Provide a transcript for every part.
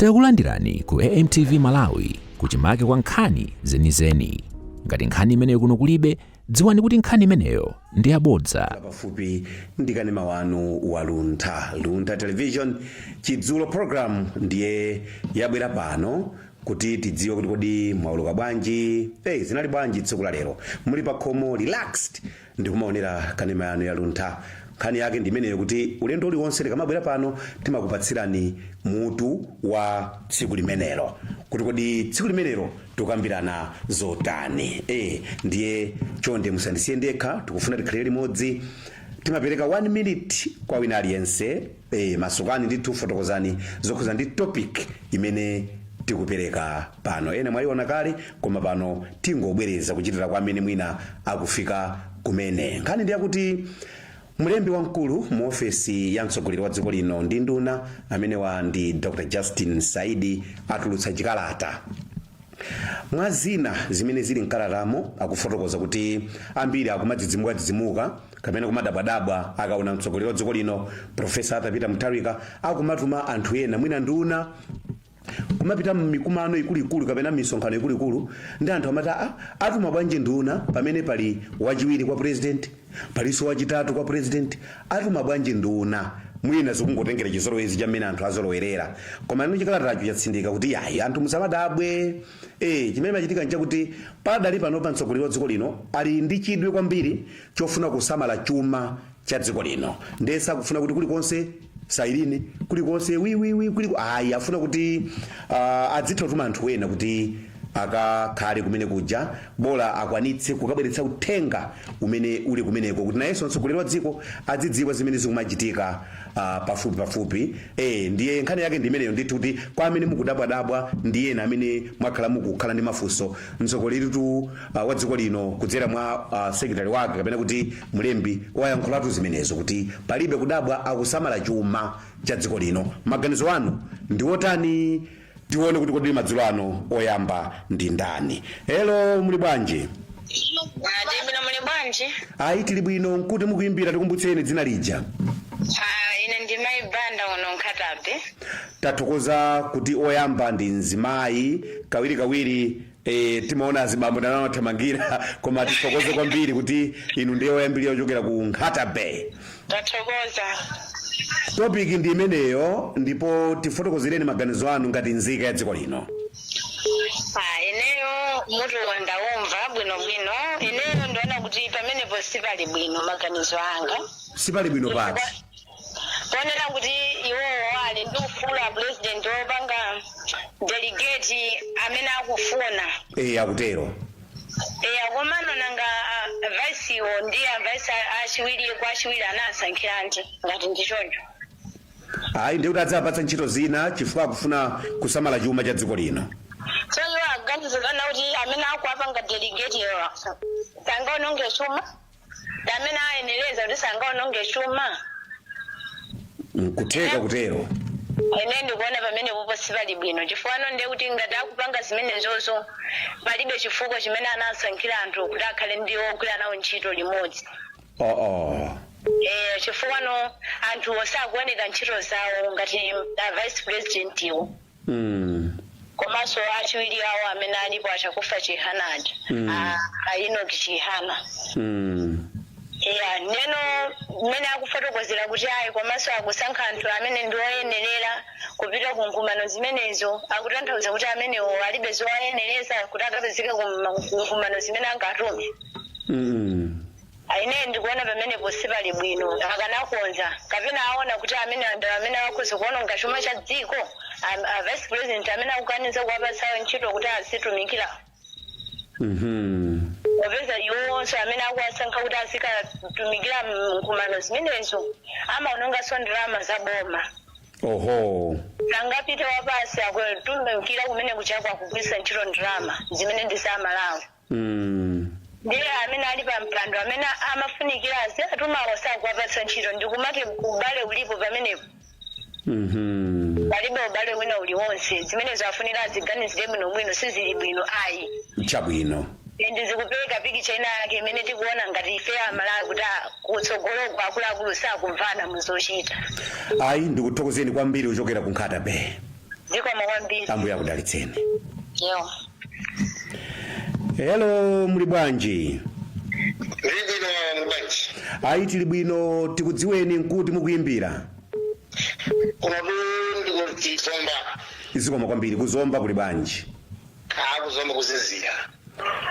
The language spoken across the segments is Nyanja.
Takulandirani ku AMTV Malawi kuchimake kwa nkhani zenizeni. Ngati nkhani imeneyo kuno kulibe, dziwani kuti nkhani imeneyo ndi yabodza. pafupi ndi kanema wanu wa luntha luntha television chidzulo program ndiye yabwera pano kuti tidziwe kuti kodi mwaweruka bwanji hey, zinali bwanji tsiku la lero muli pa khomo relaxed Ndikumaonera kanema yanu ya luntha. Nkhani yake ndi imeneyo kuti ulendo uliwonse tikamabwera pano timakupatsirani mutu wa tsiku limenelo kuti kodi tsiku limenelo tikukambirana zotani. Eh, ndiye chonde musandisiye ndekha, tikufuna tikhale limodzi. Timapereka 1 minute kwa wina aliyense. Eee masukani ndithu fotokozani zokhuza ndi topic imene tikupereka pano ena mwayiona kale koma pano tingobwereza kuchitira kwa amene mwina akufika kumene nkhani ndi yakuti mlembi wamkulu mu ofesi ya mtsogoleri wa dziko lino ndi nduna amenewa ndi dr justin saidi atulutsa chikalata mwa zina zimene zili mkalatamo akufotokoza kuti ambiri akumadzidzimukadzidzimuka kapena kumadabwadabwa akaona mtsogoleri wa dziko lino profesa arthur peter mutharika akumatuma anthu ena mwina nduna kumapita mmikumano ikuluikulu kapena misonkhano ikuluikulu ndi anthu amati "Ah, atuma bwanji nduna pamene pali wachiwiri kwa president palinso wachitatu kwa president atuma bwanji nduna mwina zikungotengera chizolowezi cha mmene anthu azolowerera komano chikalatacho chatsindika kuti yayi anthu musamadabwe Eee chimene chikuchitika nchakuti padali panopa mtsogoleri wa dziko lino ali ndi chidwi kwambiri chofuna kusamala chuma cha dziko lino ndiye sakufuna kuti kulikonse sailini kulikonse wiwiwi kuliko ayi afuna kuti uh, adzitha kutuma anthu ena kuti akakhale kumene kuja bola akwanitse kukabweretsa uthenga umene uli kumeneko kuti nayenso mtsogoleri wa dziko adzidziwa zimene zikumachitika Ah, pafupi pafupi eh, ndiye nkhani yake ndi imeneyo ndithu kuti kwa amene mukudabwadabwa ndi ena amene mwakhala mukukhala ndi mafunso mtsogoleritu uh, wa dziko lino kudzera mwa uh, sekretari wake kapena kuti mlembi wayankhulatu zimenezo kuti palibe kudabwa akusamala chuma cha dziko lino maganizo anu ndi otani Tione kuti kodi madzulo ano oyamba ndi ndani. Hello, muli bwanji? Tili bwino muli bwanji? Ayi tili bwino nkuti mukuyimbira tikumbutseni dzina lija. Ah, ine ndi mayi banda kuno Nkhata Bay. Tathokoza kuti oyamba ndi mzimayi kawirikawiri Eee timaona azibambo ndamene amathamangira koma tithokoze kwambiri kuti inu ndiye oyambirira kuchokera ku Nkhata Bay. Tathokoza. Topic ndi imeneyo ndipo tifotokozereni maganizo anu ngati nzika ya dziko lino. Ah, ineyo mutu ndaumva bwinobwino ineyo ndiona kuti pamenepo sipali bwino maganizo anga Sipali bwino pati. ponena kuti iwowo ali ndi ufulu a president wopanga delegate amene akufuna e akutero eya komano nanga vaisiwo ndi avaisi achiwiri kwa achiwiri anawasankhiranji ngati ndi choncho ayi ndiye kuti adzawapatsa ntchito zina chifukwa akufuna kusamala chuma cha dziko lino so iwo aganizirana kuti amene akuwapanga delegate iwo sangaononge chuma ndi amene ayenereza kuti sangaononge chuma? Nkutheka kutero. Ine ndikuona pamenepopo sipali bwino chifukwano ndiye kuti ngati akupanga zimenezozo palibe chifukwa chimene anasankhira anthu kuti akhale ndi ogwira nawo ntchito limodzi. Uh-uh. Eh, chifukwano anthuwo sakuoneka ntchito zawo ngati a vice president wo. Mm. komanso achiwiri awo amene alipo achakufa chihana aja Mm. a- a Enoch chihana Mm. ya ndiyeno mmene akufotokozera kuti ayi komanso akusankha anthu amene ndi oyenerera kupita ku nkumano zimenezo akutanthauza kuti amenewo alibe zowayenereza kuti akapezeke ku ma- ku nkumano zimene angatume Mm. Ah, ine ndikuona pamenepo sipali bwino akanakonza kapena aona kuti amene amene akhoza kuononga chuma cha dziko am- a vice president amene akukaniza kuwapatsawo ntchito kuti azitumikira Mhm. popeza iwonso amene akuwasankha kuti azikatumikira mkumano zimenezo amaononganso ndalama za boma Oho. sangapite wapasi akutumikira kumene kutchakwa akugwiritsa ntchito ndalama zimene ndi za malawi Mm. ndiye amene ali pa mpando amene amafunikira aziwatumawo sakuwapatsa ntchito ndikumati ubale ulipo pamenepo Mhm. palibe ubale wina uliwonse zimenezo afunika aziganizire bwinobwino sizili bwino ayi Chabwino. ndi zikupereka pikicha ina yake imene tikuona ngati ife amalawi kuti a- kutsogoloko akuluakulu sakumvana muzochita Ayi ndikuthokozeni kwambiri kuchokera ku Nkhata Bay. zikomo kwambiri ambuye akudalitseni yo hello muli bwanji ndibwino mbanji ayi tili bwino tikudziweni nkuti mukuyimbira kunotu ndi ku Zomba zikomo kwambiri ku Zomba kuli bwanji ku Zomba kuzizira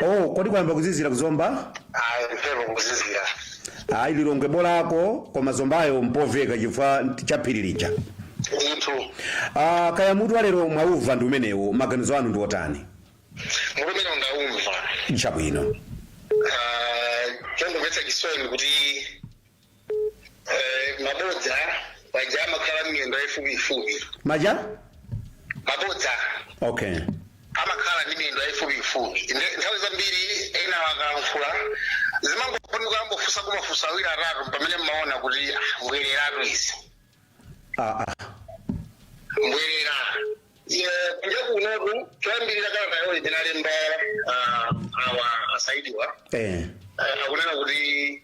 Oh, kodi kwayamba kuzizira ku Zomba? ayi mphepo kuzizira Ayi Lilongwe bolako koma Zombayo mpoveka chifukwa cha phiri lija. ndithu Ah, kaya mutu wa lero mwaumva ndi umenewo maganizo anu ndi otani? mutu umene ndaumva Chabwino. Ah, chongomvetsa chisoni kuti Eh, mabodza paja amakhala miyendo yayifupiyifupi maja mabodza okay amakhala ndi miyendo yayifupiyifupi Nde- nthawi zambiri ena akalankhula zimangofunika kumafunsa kumafunsa awiri atatu pamene mmaona kuti ah, mbwereratu izi ah, ah. mbwerera kunja kunotu choyambirira kalata yawoyi analemba awa asaidiwa eh. akunena kuti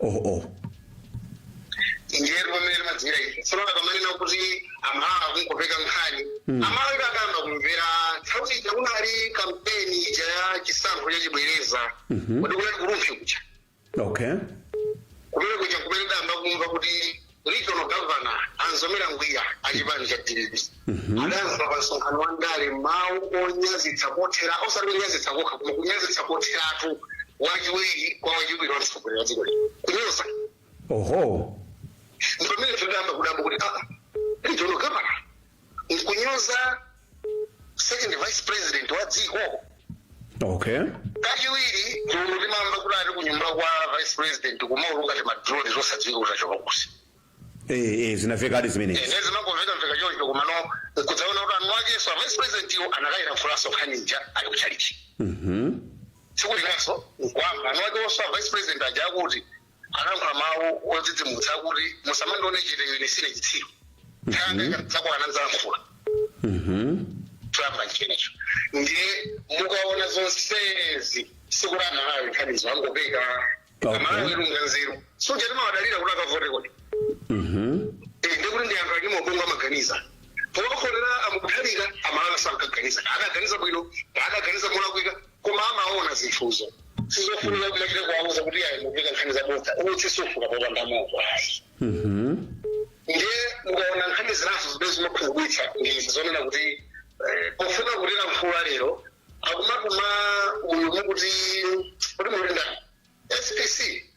oh oh ndiyetu pamene timadziwira ife tsono akamanena kuti Amalawi akungopeka nkhani Amalawi adayamba kumvera nthawi ija kunali kampeni ija ya chisankho chachibwereza kuti kunali kulumphya kuja okay kumene kuja kumene tidayamba kumva kuti Regional Governor a Mzomera Ngwira a chipani cha dpp adayankhula pa msonkhano wa ndale mawu onyazitsa kotheratu osati kunyazitsa kokha koma kunyazitsa kotheratu wachiwiri kwa wachiwiri wa mtsogoleri wa dziko lino kunyoza oho ndipamene tinayamba kudabwa kuti aa regional governor nkunyoza second vice president wa dziko okay kachiwiri timamva kuti ali kunyumba kwa vice president kumauluka timadroni tosadziwika kuti achoka kuti eh, eh, zinavekadi zimenezi eh zimangomvekamveka choncho komano nkudzaona kuti eni akenso a vice president iwo anakayilankhulanso nkhani ija ali kuchalichi Mhm. tsiku linanso nkuyamba eni akenso a vice president aja akuti analankhula mawu odzidzimutsa akuti musamandione chete ine sine chitsiru nthawi ikadzakwana ndidzalankhula chamba chinecho ndiye mukaona zonsezi sikuti amalawi nkhanizo angopeka Okay. amalawi alunga nzeru siuja timawadalira kuti akavote kodi Eh, ndi kuti ndi anthu ali ndi ubongo amaganiza powakhonera amuthalika amalawi sankaganiza adaganiza bwino adaganiza molakwika koma amaona zinthuzo sizofunika kumachita kuwauza kuti ayi mukupeka nkhani zabodza utsi sufuka popanda moto ayi ndiye mukaona nkhani zinazo zimene zimakhumudwitsa ndi izi zonena kuti eh, pofuna kutilankhula lero akumatuma uyu mukuti kuti muti ndani spc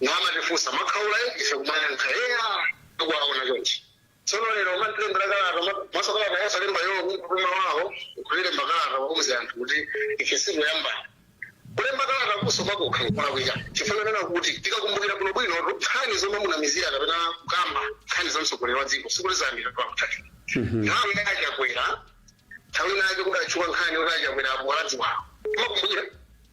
namatifunsa mwakhaula eti ife kumayankha eya tikuwaona chonchi tsono lero kumatilembera kalata ma- maso kalata yosalemba iwo kutuma wawo kulemba kalata wauze anthu kuti ife sitikuyambana kulemba kalata kumenenso kokha nkulakwika chifukwa chonena kuti tikakumbukira bwino bwino nkhani zomamunamizira kapena kukamba nkhani za mtsogoleri wa dziko sikuti zayambira kwa Mutharika nthawi ya chakwera nthawi inayake kudatchuka nkhani kuti achakwera abwana aziwawo mumakumbukira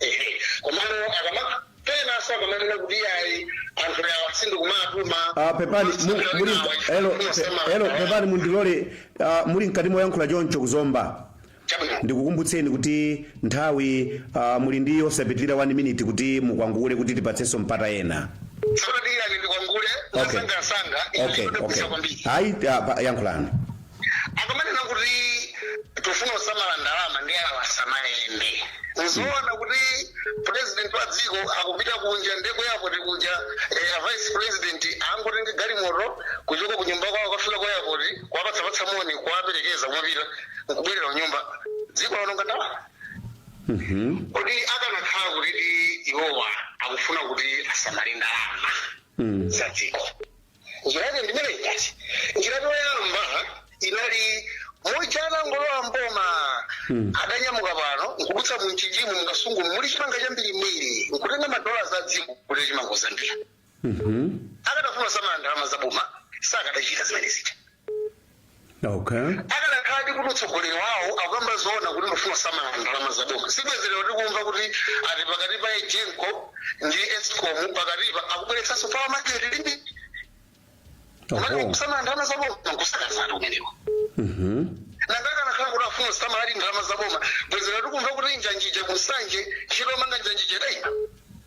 Ehe, komano akamapanga zakumanena kuti ayi anthu awa sindikuwatuma Ah, pepani mu- muli elo pe- elo pepani mundilole ah, muli mkati moyankhula choncho kuzomba chabwino ndikukumbutseni kuti nthawi ah, muli ndi yosapitirira 1 minute kuti mukwangule kuti tipatsenso mpata ena tsono tiyeni ndikwangule Okay. mwansangansanga Okay, okay. kwambiri ayi ah, pa- yankhulani akamanena kuti tifuna kusamala ndalama ndi awa asamayende nzoona kuti president wa dziko akupita kunja ndi ku eyapoti kuja eh, a vice president angotenge galimoto kuchoka ku nyumba kwawo kukafika ku eyapoti kuwapatsapatsa moni kuwaperekeza kumapita n'kubwerera kunyumba dziko laononga ndalama Mhm. kodi akanakhala kuti iwowa akufuna kuti asamale ndalama Mm. za dziko njira yake ndi imeneyi basi njira yoyamba inali muja anangolowa mboma adanyamuka pano n'kudutsa muMchinjimu muKasungu muli chimanga chambirimbiri n'kutenga madola a dziko kuti chimanga Zambia akadafuna samala ndalama za boma sakadachita zimene zija okay akanakhala ndi kuti utsogoleri wawo akukamba zoona kuti ndifuna samala ndalama za boma sibwenzi lero tikumva kuti ati pakati pa Egenco ndi Escom pakatipa akubweretsanso Power Market Limited kumati oho kusamala ndalama za boma n'kusakazatu umenewo Mhm. nanga akanakhala kuti afuna samaladi ndalama za boma bwenzi lero tikumva kuti njanji ija kuNsanje ntchito yomanga njanji ija idaima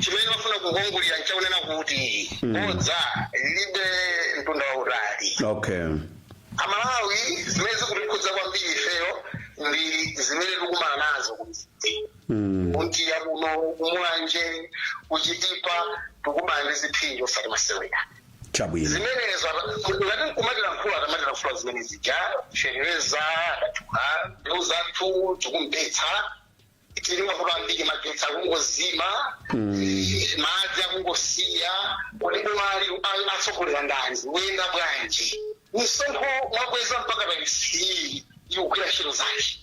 chimene ndimafuna kukwangulira n'chakunena kuti Mm. bodza lilibe mtunda wautali okay aMalawi zimene zikutikhuza kwambiri ifeyo ndi zimene tikumana nazo Mm. kuNtiya kuno kuMulanje kuChitipa tikumana ndi zipsinjo osati masewera chabwino zimenezo ngati n'kumatilankhula adzimatilankhula zimene zija fereza adatula mbeu zathu tikumpetsa tili mavuto ambiri magetsi akungozima madzi akungosiya kodi bomali atsogolela ndani kuyenda bwanji misonkho mwakweza mpaka pa ice ikugwira ntchito zake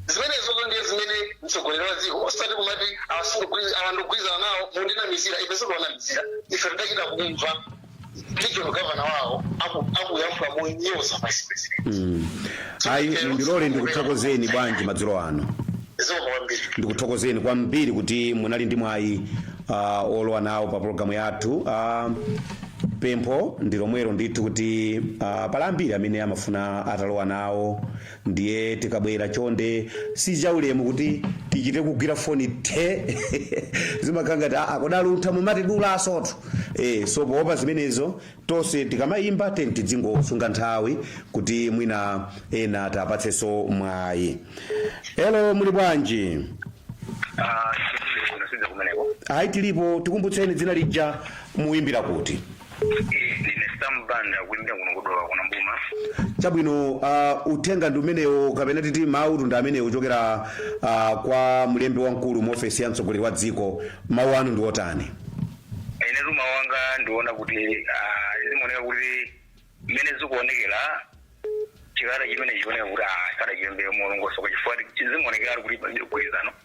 zimenezozo ndiye zimene mtsogoleri wa dziko osati kumati awa sindigwirizana nawo mundinamizira ife sitikuwanamizira ife tidachita kumva regional governor wawo aku- akuyankhula monyoza vice president Mm. ayi mundilole ndikuthokozeni bwanji madzulo ano zikomo kwambiri ndikuthokozeni kwambiri kuti munali ndi mwayi uh, olowa nawo pa pologalamu yathu uh, pempho ndi lomwelo ndithu kuti uh, pali ambiri amene amafuna atalowa nawo Ndiye tikabwera chonde si chaulemu kuti tichite kugwira foni the zimakhala ngati aa kodi aluntha mumatidulansotu eh, so poopa zimenezo tonse tikamayimba tiyeni tidzingosunga nthawi kuti mwina ena tapatsenso mwayi elo muli bwanji Ah, sisi unasinza kumeneko. ayi tilipo tikumbutseni dzina lija muyimbira kuti ndine sam banda kuimbira kuno kudowa kuno mboma chabwino uh, uthenga ndi umenewo kapena titi mawu ndi amenewo ochokera uh, kwa mlembi wamkulu mu ofesi ya mtsogoleri wa dziko mawu anu ndi otani ine mawu anga ndiona kuti ah, zimaoneka kuti mmene zikuonekera chikalata chimene chioneka kuti ah, sadachilembe molongosoka chifukwa zimaonekera kuti palibe mgwirizano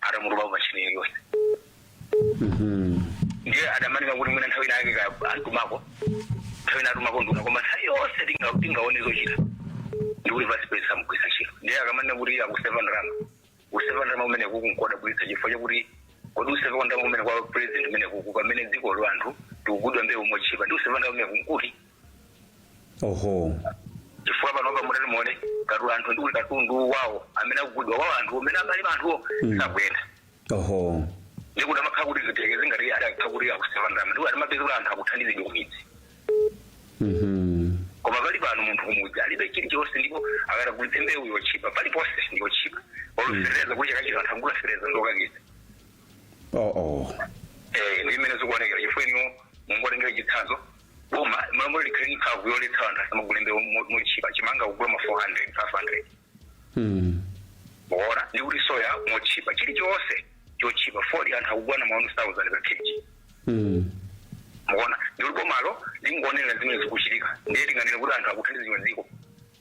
atamutupa pamashini yake yonse ndiye akamanena kuti mwina nthawi inayake antumako nthawi ina atumako nduna koma nthawi yonse tinga- tingaone zochita ndikuti vice president samugwiritsa ntchito ndiye akamanena kuti akuseva ndalama kuseva ndalama kumenekuku nkodabwitsa chifukwa chakuti kodi kuseva kwa ndalama kumene kwa president kumenekuku pamene dzikolo anthu tikugulidwa mbewu motchipa ndi kuseva ndalama kumeneku nkuti oho chifukwa panopa mutati muone katu anthu ndikuti katundu wawo amene akugulidwa wawo anthu amene amali anthuwo Mm. sakuyenda oho ndikuti amakhala kuti zitekeze ngati adakhala kuti akuseva ndalama ndikuti timapeza kuti anthu akuthandizidwa kumidzi Mhm. koma pali pano munthu kumudzi alibe chilichonse ndipo akati agulitse mbewu yotchipa paliponse ndiyotchipa olosereza kuti chakachita anthu akugula sereza ndokakisa oh oh Eh, ndi mmene zikuonekera chifukwa inuyo mungotengera chitsanzo boma malamulo likhale ndi mphamvu yoletsa anthu asamagule mbewu mo- motchipa chimanga kugula ma 400 500 Hmm. muona ndi kuti soya motchipa chilichonse chotchipa fodya anthu akugula na ma 1000 pa kg Hmm. muona ndi kuti bomalo lingoonerera zimene zikuchitika ndiye tinganene kuti anthu akuthandizidwa dziko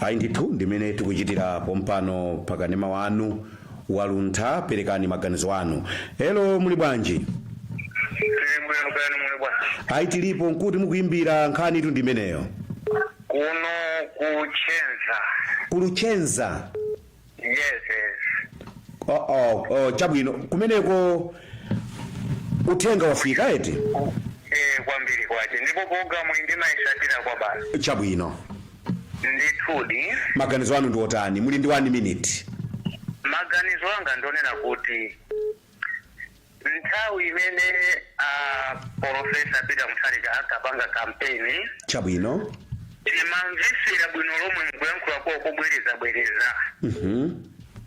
ayi ndithu ndimene tikuchitira pompano pakanema wanu waluntha perekani maganizo anu elo muli bwanji tili bwino kaya muli bwa ayi tilipo nkuti mukuyimbira nkhanitu ndimeneyo kuno kuluchenza kuluchenza yes yes oh, oh, oh, chabwino kumeneko uthenga wafika eti eh kwambiri kwache ndipo programu iyi ndimayisatira kwabasi chabwino ndithudi maganizo anu ndi otani muli ndi 1 minute maganizo anga ndonena kuti Nthawi imene a Polofesa Peter Mutharika ankapanga kampeni, Chabwino. timamvetsera bwino lomwe mukuyankhula kwawo kobwerezabwereza Mhm.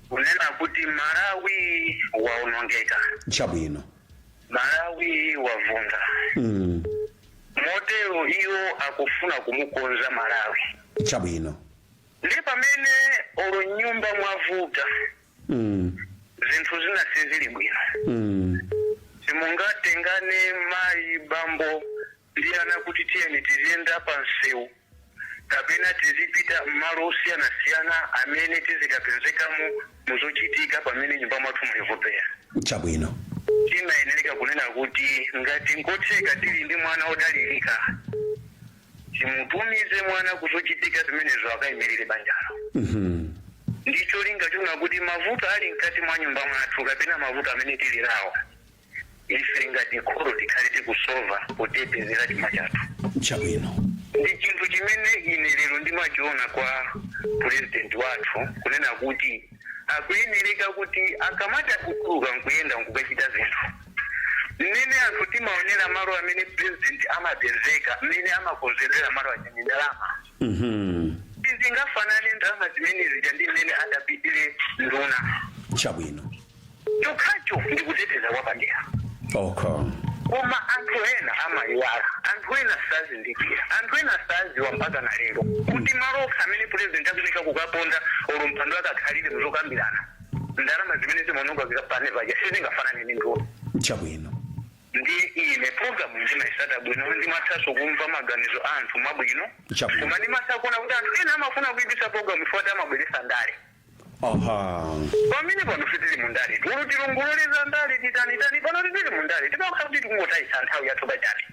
kunena kuti Malawi waonongeka, Chabwino. Malawi wavunda. Mm. Motero iwo akufuna kumukonza Malawi. Chabwino. Ndi pamene olo m'nyumba mwavuta Mm. zinthu zina sizili bwino Mm. simungatengane mayi bambo ndi ana kuti tiyeni tiziyenda pa msewu kapena tizipita m'malo osiyanasiyana amene tizikapezekamo muzochitika pamene m'nyumba mwathu mulivopera Chabwino. timayenereka kunena kuti ngati nkotheka tili ndi mwana odalirika timutumize mwana kuzochitika zimenezo akayimirire banjalo ndi cholinga chonena kuti mavuto ali mkati mwa nyumba mwathu kapena mavuto amene tili nawo ife ngati kholo tikhale tikusova potetezera chuma chathu chabwino ndi chinthu chimene ine lero ndimachiona kwa purezidenti wathu kunena kuti akuyenereka kuti akamatha kutuluka nkuyenda nkukachita zinthu Mmene anthu timaonera malo amene president amapezeka mmene amakonzera malo aja ndi ndalama Mhm. sizingafanane ndalama zimene zija ndi mmene adapitire nduna Chabwino. chokhacho ndi kuteteza kwapadera Okay. koma anthu ena amayiwala anthu ena sazindikira anthu ena saziwa mpaka na lero kuti malo okha amene president akunika kukaponda olo mpando akakhalire muzokambirana ndalama zimene zimaononga zikapanga paja sizingafanane ndi nduna chabwino ndi ine programu ndimayitsata bwino ndimathanso kumva maganizo a anthu abwino Chabwino. koma ndimatha kuona kuti anthu ena amafuna kuipitsa programu chifukwa amabweretsa ndale aha pamene pano sitili mu ndale tulu tilongololeza ndale titanitani pano sitili mu ndale timakhala kuti tikungotayisa nthawi yathu pachabe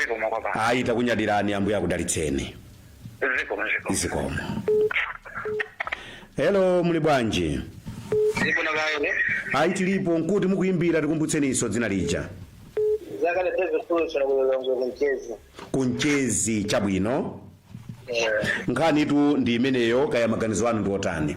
zikomo kwambiri ayi takunyadirani ambuye akudalitseni zikomo zikomo zikomo hello muli bwanji zikomo kaene ayi tilipo nkuti mukuyimbira tikumbutseninso dzina lija zakale peve sulu kuno ku Lilongwe ku Mchesi ku Mchesi chabwino nkhanitu ndi imeneyo kaya maganizo anu ndi otani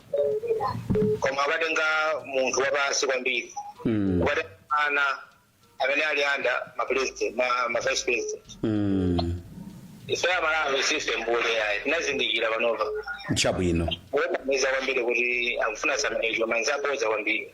koma akatenga munthu wapansi kwambiri Mm. akatenga ana amene ali anda ma president ma, ma vice president Mm. ife aMalawi sife mbule yayi tinazindikira panopa chabwino wonamiza kwambiri kuti akufuna samaicho manzi aboza kwambiri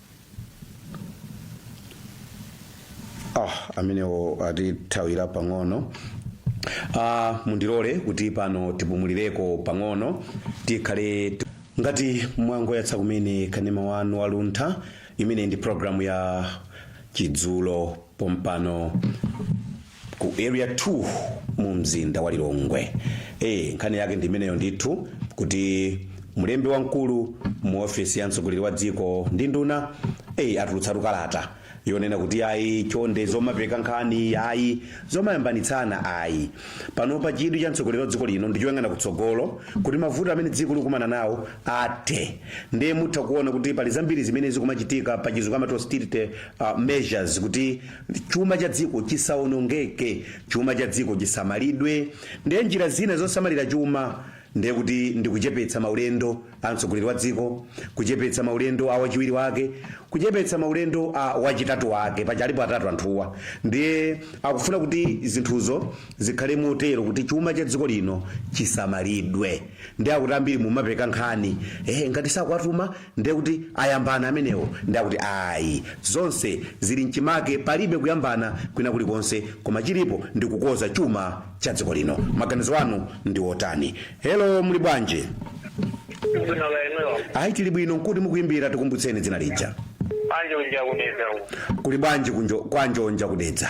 ah amenewo atithawira pang'ono ah mundilole kuti pano tipumulireko pang'ono tikhale ngati mwangoyatsa kumene kanema wanu waluntha imene ndi programu ya chidzulo pompano ku area 2 mu mzinda wa lilongwe e, nkhani yake ndi imeneyo ndithu kuti mlembi wamkulu mu ofisi ya mtsogoleri wa dziko ndi nduna e, atulutsatu kalata yonena kuti ayi chonde zomapeka nkhani ayi zomayambanitsana ayi pano pa chidwi cha mtsogoleri wa dziko lino ndichoyang'ana kutsogolo kuti mavuto amene dziko likumana nawo athe ndiye mutha kuona kuti pali zambiri zimene zikumachitika pa chizungu amati austerity uh, measures kuti Chuma cha dziko chisaonongeke, chuma cha dziko chisamalidwe, ndiye njira zina zosamalira chuma ndiye kuti ndi kuchepetsa maulendo a mtsogoleri wa dziko, kuchepetsa maulendo a wachiwiri wake, kuchepetsa maulendo a wachitatu wake, paja alipo atatu anthuwa, ndiye akufuna kuti zinthuzo Zikhale motero kuti chuma cha dziko lino chisamalidwe. Ndiye akuti ambiri mumapeka nkhani, eh ngati sakuwatuma ndiye kuti ayambana amenewo ndiye akuti ayi. Zonse zili mchimake palibe kuyambana kwina kulikonse koma chilipo ndi kukonza chuma cha dziko lino. Maganizo anu ndi otani? Hello muli bwanji? Ndikuona kaya inuyo. Ayi tili bwino nkuti mukuyimbira tikumbutseni dzina lija. Kwa Njonja ku Dedza uko. Kuli bwanji kwa Njonja ku Dedza?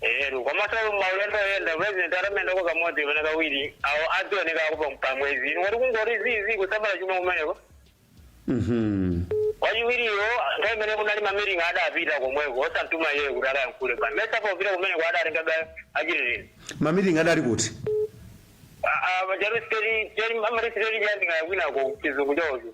eheru komasalo maulendo oyenda president atamendako kamodzi kapena kawiri awo adzioneka akupa pamwezi inu kuti kungoti zizi kusamala chuma kumeneko Mhm. wachiwiriyo nthawi imene kunali mamiringi adapita komweko osamtuma iyeyo kuti akayankhule pa Misa popita kumeneko adatengabe achititini mamiringi adali kuti majarisiteri amarisiteri chandingayakwinako chizungu chaocho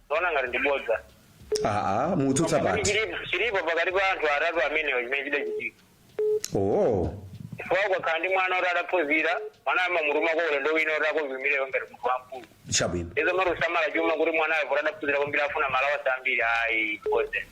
Ndikuona ngati ndi bodza. aa mutsutsa Koma pati chilipo chilipo pakati pa anthu atatu amenewo chimene chidachitika. oo Chifukwa ukakhala ndi mwana oti adaphunzira, mwana amamutuma kaulendo wina oti akovumirewo ngati munthu wamkulu. chabwino Izo zomati kusamala chuma kuti mwana wawo poti adaphunzira kwambiri afuna malawansi ambiri ayi n'bodza.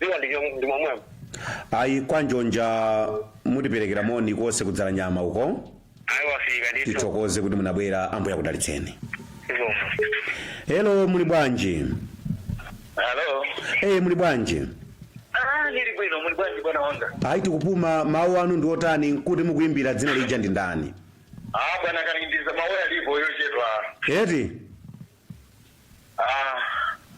dziko ndi chom- ndi momwemo ayi kwa njonja mutiperekera moni konse kudzala nyama uko ayi wafika ndithu tithokoze kuti munabwera ambuye akudalitseni zikomo helo muli bwanji halo eye muli bwanji ah ndili bwino muli bwanji bwana wanga ayi tikupuma mawu anu ndi otani nkuti mukuyimbira dzina lija ndi ndani ah bwana kalindiza mawu alipo yochedwa eti Ah,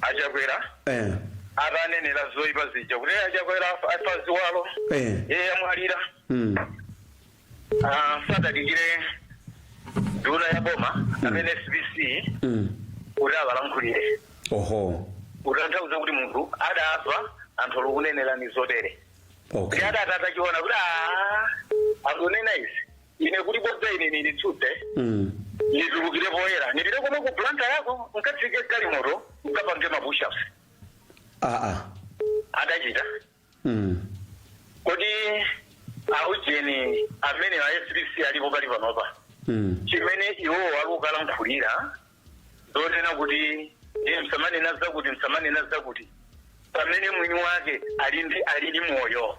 a Chakwera eh, atanenera zoyipa zija kuti "Eh, a Chakwera afa- afa ziwalo eh, iye amwalira mm, Ah, sadadikire nduna ya boma amene SPC mm. kuti akalankhulire oho kutanthauza kuti munthu adafa anthu olukunenerani zotere okay ndi adati atachiona kuti "Ah, akunena izi ine kuti bodza ine nilitsutse Mm. nitulukire poyera nipite komwe ku Blantyreko nkatsike galimoto nkapange mapushups Ah, ah. adachita Mm. kodi aujeni amene a SPC alipo pali panopa Mm. chimene iwo akukalankhulira zonena kuti iye msamanena zakuti msamanena zakuti pamene mwini wake ali ndi ali ndi moyo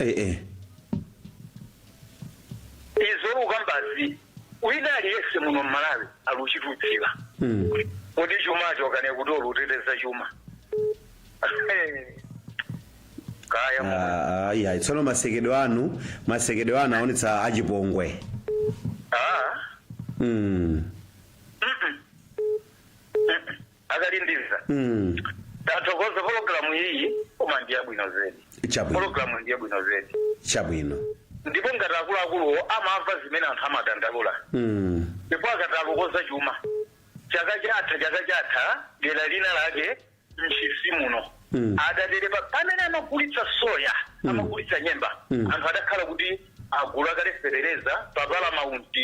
eh, eh. izo olukambazi wina aliyese muno m'Malawi aluchitutsira Mm. kodi chumacho kane kuti oluteteza chuma kaya mu- Ah, ah, iya tsono masekedwe anu masekedwe anu aonetsa achipongwe ah, mm. akalindiza Mm. tathokoza pologalamu iyi koma ndi yabwino zedi Chabwino. pologalamu ndi yabwino zedi Chabwino. ndipo ngati akuluakuluwo amamva zimene anthu amadandaula Mm. ndipo akati akukoza chuma chaka chatha chaka chatha dera lina lake Ntchisi muno Mm. adatere pa pamene amagulitsa soya amagulitsa nyemba Mm. anthu adakhala kuti agula kale fetereza pa Paramount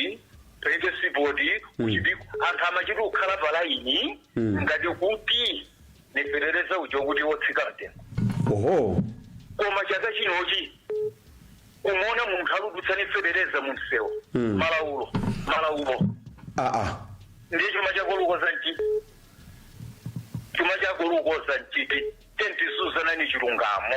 pa Export ku Chipiku anthu amachita kukhala pa laini ngati kuti ni fetereza uja kuti wotsika mtengo oho koma chaka chinochi umaona munthu akudutsa ni fetereza mu msewu malaulo malaulo aa ndiye chuma chako lukoza nchiti chuma chako lukoza nchiti tiyeni tiziuzanani chilungamo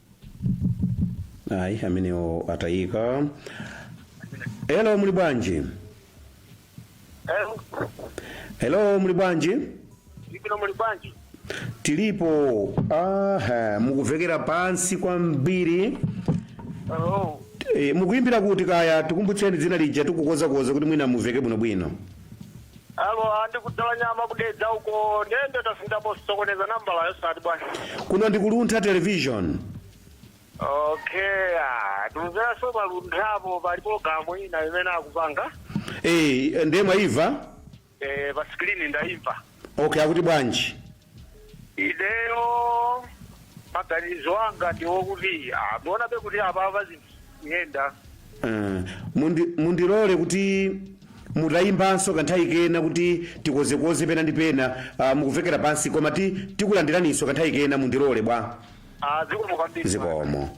ayi amenewo atayika hello muli bwanji hello muli bwanji ndili bwino muli bwanji tilipo aha mukumvekera pansi kwambiri oh e, mukuyimbira kuti kaya tikumbutseni dzina lija tikukozakoza kuti mwina mumveke bwinobwino Alo, a ndi ku Dzalanyama ku Dedza uko ndende tasindapo sokoneza nambala yosati bwana. kuno ndi ku Luntha television Okay, ah, tikumveranso pa Lunthapo pali programu ina imene akupanga Eh, ndiye mwayimva eh, pa screen ndaimva. okay akuti bwanji ineyo maganizo anga ndiwokuti amuonabe kuti apapa zinthu kuyenda Ah, mundi- mundilole kuti mutayimbanso kanthawi kena kuti tikozekoze pena ndi pena ah, mukuvekera pansi koma ti tikulandiraninso kanthawi kena mundilole bwa azikomo kwambiri zikomo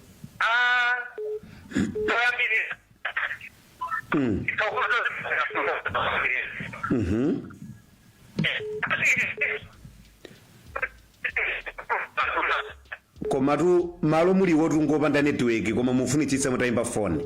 komatu malo muliwotu ngopanda netiweki koma mufunitsitsa mutayimba foni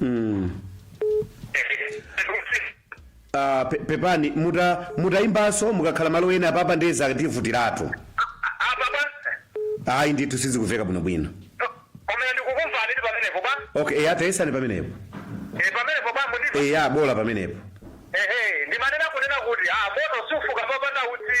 mm. uh, pe, pepani muta mutayimbanso mukakhala malo ena apapa ndiye zativutiratu ayi ndithu sizikuveka bwino bwino komene ndikukumvani ndi pamenepo ba okay eya tayesani pamenepo Eh, pamenepo ba mundi eya bola pamenepo ehe ndimanena kunena kuti ah moto sufuka popanda utsi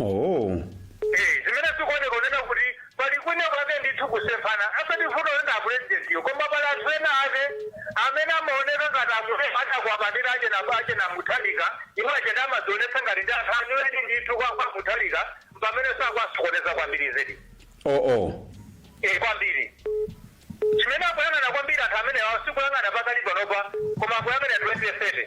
oh Eh, zimene zikuoneka kunena kuti pali kwina kwake ndithu kusemphana asati vuto lina apulezidentiyo koma pali anthu ena ake amene amaoneka ngati amune atakwapatira ache na ache na mutharika iwo achene amazionetsa ngati ndi anthu anyuweni ndithu kwa kwa mutharika pamene akuwasokoneza kwambiri zedi oh oh eh, kwambiri chimene akuyang'ana kwambiri anthu amenewa sikuyang'ana pakali panopa koma akuyang'ana 2030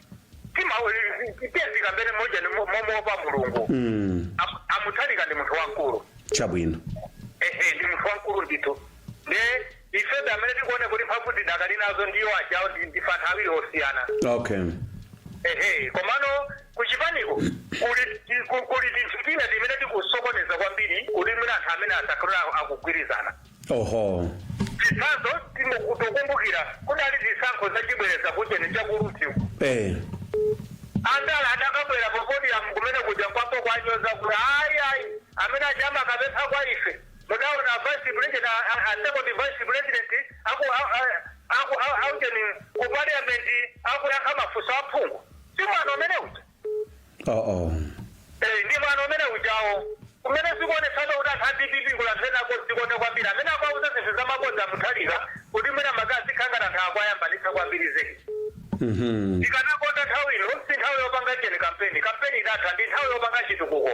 tima tizikambana moujeni mo- momuopa mulungu mm. Am- amutharika ndi munthu wamkulu chabwino ehe ndi munthu wamkulu ndithu nde ifebe amene tikuona kuti mphamvu tidakali nazo ndi iwo ajawo ndi- ndife anthu awiri osiyana okay ehe komano kuchipaniko kuli ti- ku- kuli tinthu tina timene tikusokoneza kwambiri kuti mwina anthu amene asakhale akugwirizana oho chitsanzo tikukumbukira kudali zisankho zachibwereza kuujeni chaku rumphi eh. andala adakabwera pa podium kumene kuja kwapo kuwanyoza kuti ayi ayi amene achihana akapempha kwa ife mudaona vice president a- a- a second vice president aku a- a- aku a- aujeni ku parliament akuyankha mafunso aphungu si mwana amene uja oo Eh, ndi mwana amene ujawo kumene zikuonetseratu kuti anthu a dpp kuli anthu ena odzikonda kwambiri amene akuwauza zinthu za mabodza amutharika kuti mwina mwake azikangana ndi anthu akuwayambanitsa kwambiri zedi Mhm. tikanakonda nthawi ino si nthawi yopanga ujeni kampeni kampeni idatha ndi nthawi yopanga chitukuko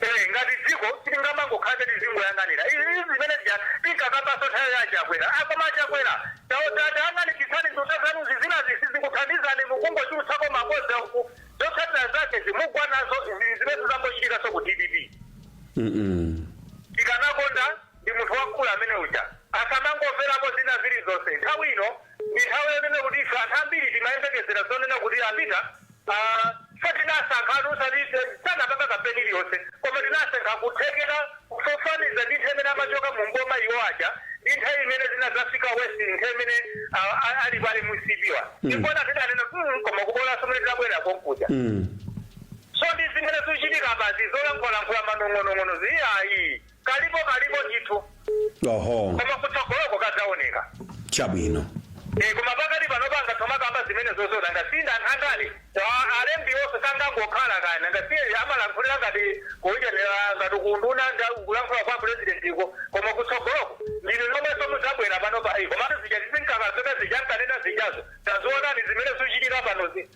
Eh, ngati dziko sitingamangokhala tizingoyang'anira izi izi zimene zija tinkakambaso nthawi ya chakwera akoma achakwera tayang'anitsitsani nduna zanuzi zinazi sizikuthandizani mukungochulutsako mabodza uku zotsatira zake izi mugwa nazo izi zimene zangochitikaso ku dpp Mm-mm. tikanakonda ndi munthu wamkulu amene uja asamangomverako zina zilizonse nthawi ino ndi nthawi yonena kuti ife anthu ambiri timayembekezera zonena kuti apita a. Ife so tinasankhatu osati sanapanga kampeni iliyonse koma tinasankha kuthekera kufananiza ndi nthawi imene amachoka mu m'boma iwo aja ndi nthawi imene zinadzafika worse nthawi imene a, a, ali pa mcp-wa ndikuona tidanena mm, koma kubolanso mene tidabwera konkuja so ndi zimene zikuchitika apazi zolankhulalankhula manong'onong'ono ziyayi Kalipo kalipo ndithu. oho Koma kutsogoloko kadzaoneka. chabwino Eh koma pakati pano panga ntoma kamba zimene zozona ngasinda andale. Alembi onse sangangokhala kaya ngasiye amalankhulira ngati kuyenera ngati kunduna kulankhula kwa president iko. Koma kutsogoloko ndinu nomwenso mudzabwera pano pa iko. Komatu zija tizinkakaseka zija nkanena zijazo. Tazionani zimene zuchitika pano.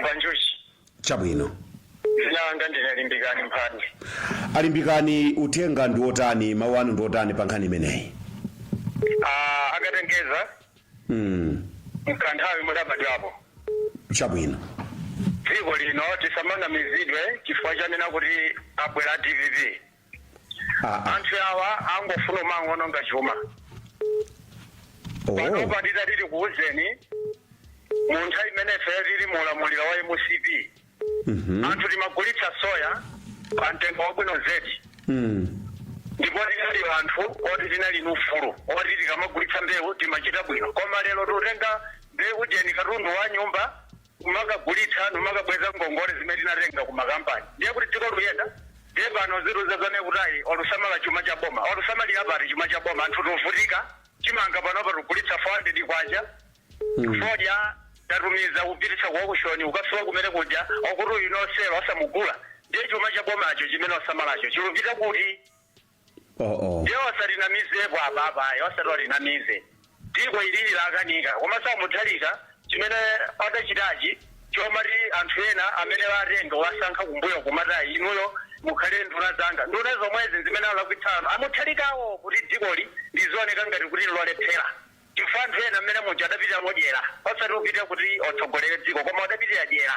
Mvanjuchi. chabwino Dzina langa ndine Limbikani Mphande. a Limbikani uthenga ndi wotani mawu anu ndi wotani pa nkhani imeneyi Ah, akatengeza mm. mkanthawi mwabadwapo. chabwino Dziko lino tisamanamizidwe chifukwa chanena kuti abwera DPP. aa anthu awa angofuna kumangoononga chuma oh. panopa titati tikuwuzeni mu nthawi imene ifeyo tili mu ulamuliro wa mcp Mhm. anthu timagulitsa soya pa mtengo wabwino zedi Mm. ndipo tinali anthu oti tinali ni ufulu oti tikamagulitsa mbewu timachita bwino koma lero tikutenga mbewu ujeni katundu wa nyumba kumakagulitsa nkumakabweza ngongole zimene tinatenga ku makampani ndiye kuti dziko likuyenda ndiye pano azitiuza zonena kuti ayi olusamala chuma cha boma olusamalira pati chuma cha boma anthu tovutika chimanga panopa tikugulitsa 400 kwacha fodya tatumiza kupititsa ku okushoni ukafika kumene kuja okuti uyu no sale asamugula ndiye chuma cha bomacho chimene osamalacho chilupita kuti oh, oh. ndiye asatinamizepo apapa ayi osati otinamize dziko ili lakanika koma sa Mutharika chimene adachitachi chomati anthu ena amene atenga wasankha kumbuyo kumati ayi inuyo mukhale nduna zanga nduna zomwezi ndi zimene zalakwitsano a Mutharikawo kuti dzikoli lizioneka ngati kuti lolephera chifukwa anthu ena amene muja adapitira modyera osati kupitira kuti otsogolere dziko koma adapitira dyera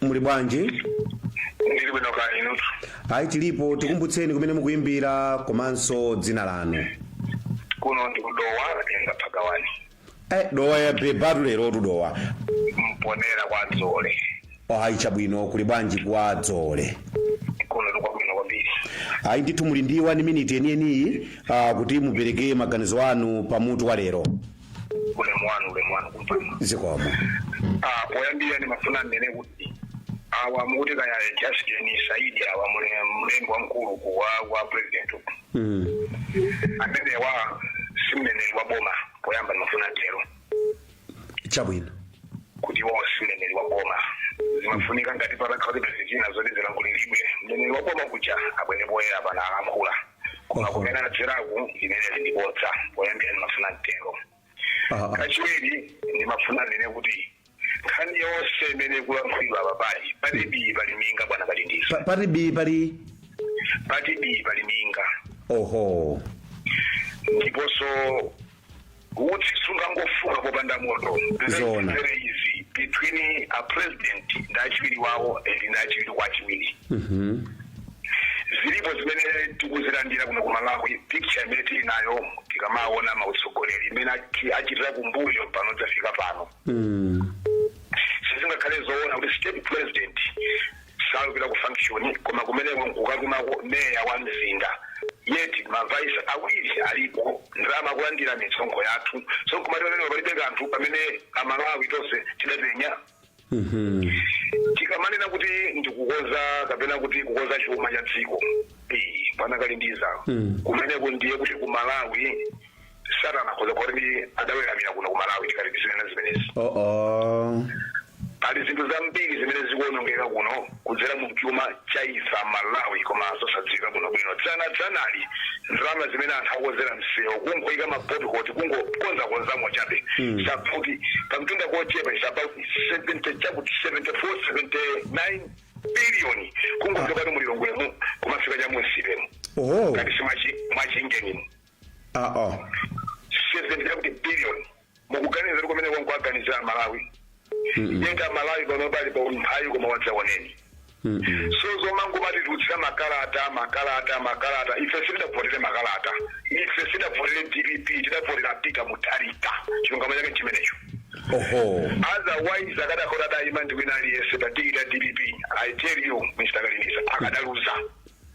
muli bwanji ndili bwino kaya inutu ayi tilipo tikumbutseni kumene mukuyimbira komanso dzina lanu kuno ndi ku Dowa atenga phagawani eh, Dowa yabebatu lero tu Dowa Mponela kwa Dzoole ayi chabwino kuli bwanji kwa Dzoole kuno ndikwabwino kwambiri ayi ndithu muli ndi wani miniti yeniyeniyi uh, kuti mupereke maganizo anu pa mutu wa lero ulemu wanu ulemu wanu kumpando zikomo Ah, poyambira ndimafuna ndinene kuti awa mukuti kaya justin saidi awa mule- mlembi wamkulu ku wa wa president uku Mm. amenewa si mneneri wa boma poyamba ndimafuna tero chabwino kuti iwo si mneneri wa boma zimafunika ngati patakhala kuti pali zina zoti zilankhuliridwe mneneri wa boma kuja abwere poyera pano alankhula koma kumene adzeraku limeneli ndi bodza poyambira ndimafuna ntero Ah, ah. kachiwiri ndimafuna nene kuti nkhani yonse imene ikulankhulidwa apa pali pati bii pali minga bwana kalindiza Pa- pati bi pali pati bii pali minga oho ndiponso utsi sungangofuka popanda moto Zoona. There is between a president ndi achiwiri wawo and ndi achiwiri kwa achiwiri zilipo zimene tikuzilandira kuno ku malawi picture imene tili nayo tikamaona mautsogoleri imene achi- achitira kumbuyo pano kudzafika pano sizingakhale zoona kuti state president salupita ku function koma kumeneko nkukatumako meya wa mzinda yet ma vice awiri alipo ndalama kulandira misonkho yathu so nkumati pamene palibe kanthu pamene amalawi tonse tidapenya tikamanena kuti ndikukonza kapena kuti kukonza chuma cha dziko eh, bwana kalindiza kumeneko ndiye kuti ku malawi satana akhoza kukhala kuti adaweramira kuno ku malawi tikati tizinena zimenezi oo pali zinthu zambiri zimene zikuonongeka kuno kudzera mu chuma cha ife amalawi koma zosadziwika kuno bwino dzana dzanali ndalama zimene anthu akonzera msewu kungoyika mapothole kungokonzakonzamo chabe safuti pamtunda kochepa is about 70 chakuti 74 79 biliyoni kungochoka kuti mu lilongwemo kumafika cha mu nsipemo oo ngati si mwa chingenimu aa 70 chakuti billion mukuganiza kuti kumeneko nkuwaganizira amalawi yet amalawi panopa ali pa umphawi koma wadzaoneni so zomangomatitulutsira makalata makalata makalata ife sitidavotere makalata ife sitidavotere dpp tidavotera peter mutharika chilungamo chake chimenecho oho otherwise akadakhala adayima ndi wina aliyense pa tikiti ya dpp i tell you mr kalindiza akadaluza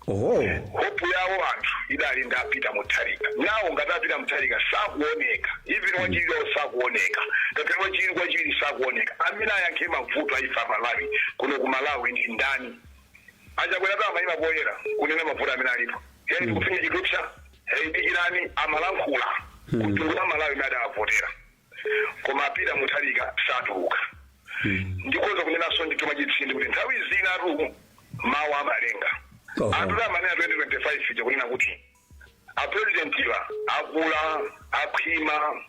Oho. hope yawo anthu idali ndi a peter mutharika now ngati a peter mutharika sakuoneka even wachiwiri wawo sakuoneka ngakhale wachiwiri kwa wachiwiri sakuoneka amene ayankhe mavuto a ife amalawi kuno ku malawi ndi ndani achakweratu amayima poyera kunena mavuto amene alipo hei ndikufinya chithupsa hei dikirani amalankhula ku mtundu wa amalawi amene adawavotera koma a Peter Mutharika satuluka ndikoza kunenanso ndithu mwachitsindi kuti nthawi zinatu mawu amalenga anthu atamanena 2025 ija kunena kuti apurezidentiwa akula akhwima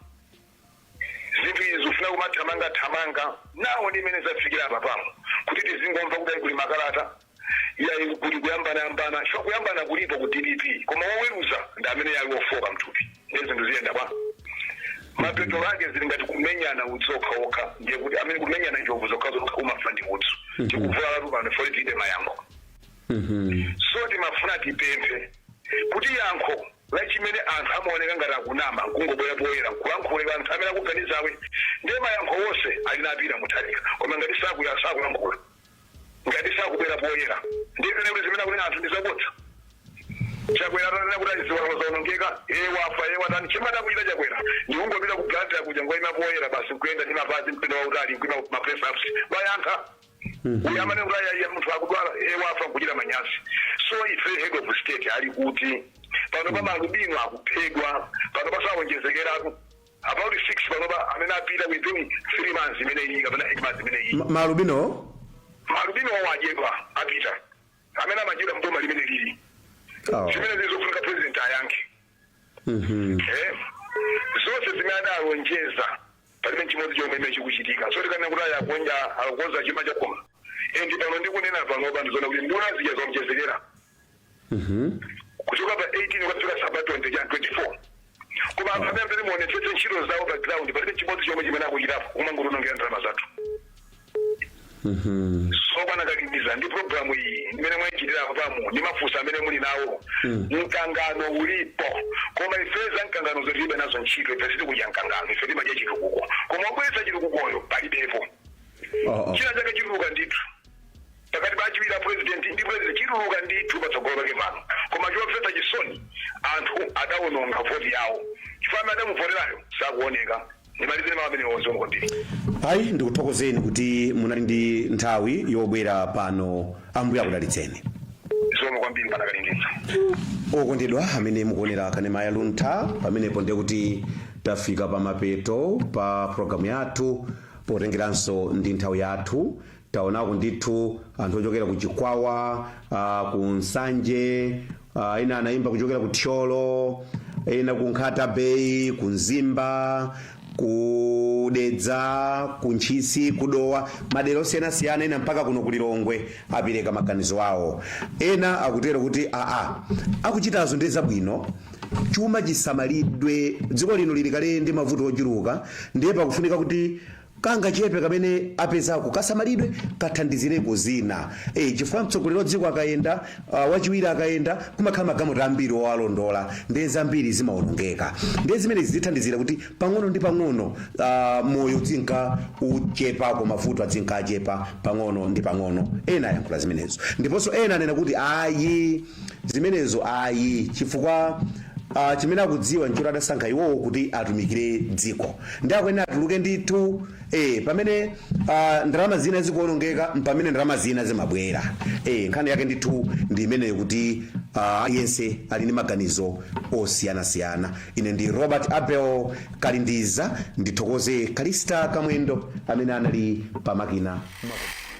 zinthu izi zifuna kumathamangathamanga nawo ndi imene zafikira apa pano kuti tizingomva kuti kuli makalata iyayi kuti kuyambanayambana sho kuyambana kulipo ku dpp koma woweruza ndi amene ali wofoka mthupi ndiye zinthu ziyenda bwa mapeto ake zili ngati kumenyana udzu okhaokha ndiye kuti amene kumenyana njovu zokhazokha umafa ndi udzu tikuvulalatu pano fo tiite mayankho so timafuna tipemphe kuti yankho la chimene anthu amaoneka ngati akunama nkungobwera poyera nkulankhulira anthu amene akuganizawo ndiye mayankho onse ali ndi a Peter Mutharika koma ngati sakuya sakulankhula ngati sakubwera poyera ndiye kuti zimene akunena anthu ndi zabodza chakwera atanena kuti azivala zaonongeka iye wafa iye watani chimene akuchita chakwera ndi kungopita ku Blantyre kuja nkungoyima poyera basi nkuyenda ndi mapazi mtunda wautali nkuyima ma press ups kuwayankha uyu amene kuti iyayi munthu akudwala iye wafa nkuchita manyazi so ife head of state ali kuti pano pa maalubino akuphedwa pano pazawonjezekeratu About 6 panopa amene apita within 3 months imeneyi kapena 8 months imeneyi. Ma, ma albinowo? Ma albinowo adyedwa apita. Amene amadyedwa mboma limene lili. Oh. Zimene zizofunika president ayankhe. Mhm. Mm eh? Zonse zimene adalonjeza palibe chimodzi chomwe chimene chikuchitika. So tikanena kuti akukonza akonza chuma chakoma. Endi pano ndikunena pano pano zona kuti nduna zija zawonjezekera. kuchoka pa 18 kwafika za about 20 chani 24 koma anthu amene amene muonetsetse ntchito zawo pa ground palibe chimodzi chomwe chimene akuchitapo kumangotionongera ndalama zathu so kwa a Nakakimiza ndi programu iyi imene mwaichitira apayi ndi mafunso amene muli nawo mkangano ulipo koma ife za mkangano zo tilibe nazo ntchito ife sitikudya mkangano ife timadya chitukuko koma obweretsa chitukukoyo palibepo china chake chituluka ndithu pakati pa achiwiri a president ndi president chituluka ndithu patsogolo pake pano koma chomvetsa chisoni anthu adawononga voti yawo chifukwa amene adamuvoterayo sakuoneka ndimalizire mawu amenewo zikomo kwambiri ayi ndikuthokozeni kuti munali ndi nthawi yobwera pano ambuye akudalitseni zikomo kwambiri panakalingisa okondedwa amene mukuonera kanema ya luntha pamenepo ndiye kuti tafika pa mapeto pa programu yathu potengeranso ndi nthawi yathu Taonako ndithu anthu ochokera ku Chikwawa, uh, ku Nsanje, uh, ena anaimba kuchokera ku Thyolo, ena ku Nkhata Bay, ku Mzimba, ku Dedza, ku Ntchisi, ku Dowa, madera osiyanasiyana ena mpaka kuno ku Lilongwe apereka maganizo awo. Ena akutero kuti aa akuchitazo ndi zabwino chuma chisamalidwe dziko lino lili kale ndi mavuto ochuluka ndiye pakufunika kuti kangachepe kamene apezako kasamalidwe kathandizireko zina e, chifukwa mtsogoleri wa dziko akayenda uh, wachiwiri akayenda kumakhala magamota ambiri owalondola ndiye zambiri zimawonongeka ndiye zimenezi zithandizira kuti pang'ono ndi pang'ono uh, moyo udzingka uchepako mavuto adzingka achepa pang'ono ndi pang'ono ena ayankhula zimenezo ndiponso ena anena kuti ayi zimenezo ayi chifukwa uh, chimene akudziwa nchoti adasankha iwowo kuti atumikire dziko ndiye akuyenera atuluke ndithu eh, pamene uh, ndalama zina zikuonongeka mpamene ndalama zina zimabwera eh, nkhani yake ndithu ndi imeneyo kuti uh, aliyense ali ndi maganizo osiyanasiyana ine ndi Robert Abel Kalindiza ndithokoze Kalista Kamwendo amene anali pamakina